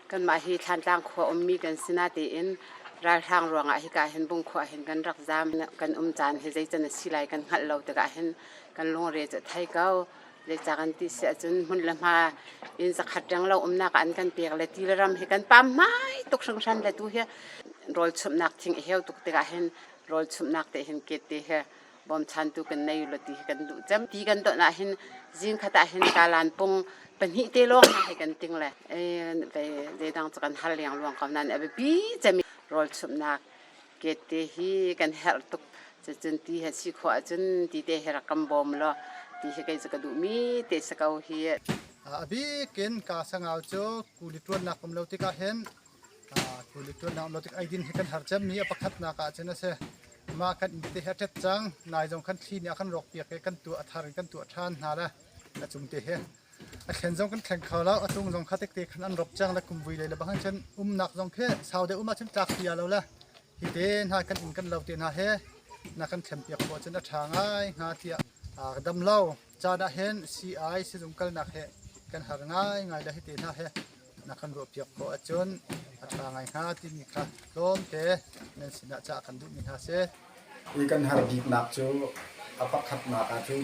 kanmah hi Thlantlang khua ummi kan si na tiin ralhrang ruangah hika hin Bungkhua hin kan rak zaam kan um caan hi zeican a si lai kan hngalh lo tikah hin kan lungre cu thai ko le ca kan ti si ahcun hmun le hma in zakhat reng lo umnak an kan pek le ti le ram hi kan pam mai tuk hringhran le tu hi rawl chumhnak thing a heu tuk tikah hin rawl chumhnak te hin ket te hi bawmchantu kan nei lo ti hi kan duh cem ti kan don ah hin zing khat ah hin kalan pung pahnih te lawng ha hi kan ting le e kei ze dang kan hal liang luang ko nan a bi cemi rol chumnak get te hi kan her tuk cun ti ha si kho cun ti te her kam bom lo ti hi kei ka duh mi te sa ko hi a bikin ka sangau cu kuli tuan nak um lo tikah hin Tuannak nautik eidin hi kan har cemmi a pakhatnak ahcun a si. Mah kan inn hi a ṭet cang. Nai zong kan thli nih a kan rawkpiak i kan tuah a thar in kan tuah ṭhan hna le a cung te hi. A thlen zong kan thleng kho lo. A tung zong kha tekte khan an rop cang le kum vui lei le bang cun umnak zong khi sau deuh um ahcun tlak pi a lo le hi te hna kan inn kan lo te hna he na kan thlenpiak khawh cun a ṭha ngai hnga tiah aa dam lo. Caan ahhin sii-ai sizung kalnak he kan har ngaingai le hi te hna hi na kan ruahpiak khawh ahcun a ṭha ngai hnga timi kha tlawmte nan sinah cah kan duhmi hna si. Hi kan hal biknak cu a pakhatnak ah cun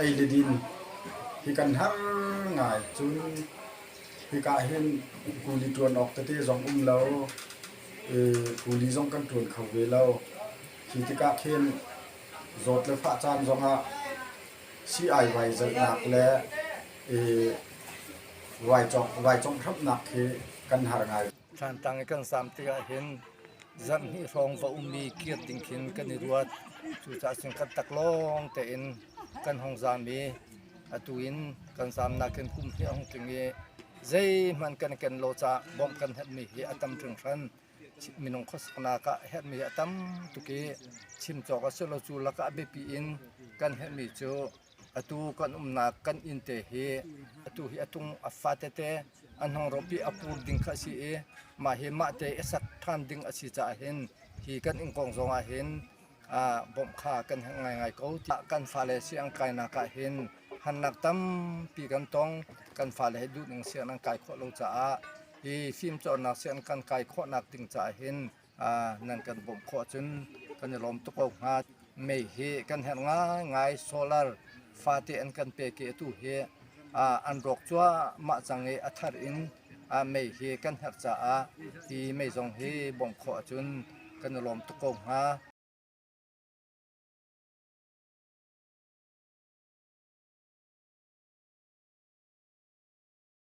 ei le din hi kan har ngai cun hika hin kuli ṭuan awk tete zong um lo i kuli zong kan ṭuan kho ve lo. Khi tikah khin zawt le fahcaan zongah sii-ai vai zalhnak le i Ruaicawngh hramnak khi kan har ngai. Thlantlang i kan sam tikah hin zarhhnih hrawng va ummi kir ding khin kan i ruat. Cucaah cun kan tak lawng tein kan hong zam i atu in kan zamnak in kum hi a hung tling i zeihmanh kan ken lo caah bawmh kan herhmi hi a tam hringhran. Minung khuasaknak ah herhmi a tam tuk i chim cawk a si lo. Cu lakah biapi in kan herhmi cu Atu kan umnak kan inn te hi atu hi a tung a fa tete a hnungrawpi a pur ding kha a si i mah hi mah te i sak ṭhan ding a si caah hin hi kan inn kong zong ah hin bawmh kha kan heng ngaingai ko tiah kan fale siang kainak ah hin hannak tampi kan tong kan fale he duh ning siang an kai khawh lo caah hi fimcawnnak siang kan kai khawhnak ding caah hin nan kan bawmh khawh cun kan i lawm tuk ko hnga. Mei hi kan herh ngaingai solar fate an kan pe ke tu hi an rawk cuahmah cang i a thar in mei hi kan herh caah hi mei zong hi bawmh khawh ahcun kan i lawm tuk ko hnga.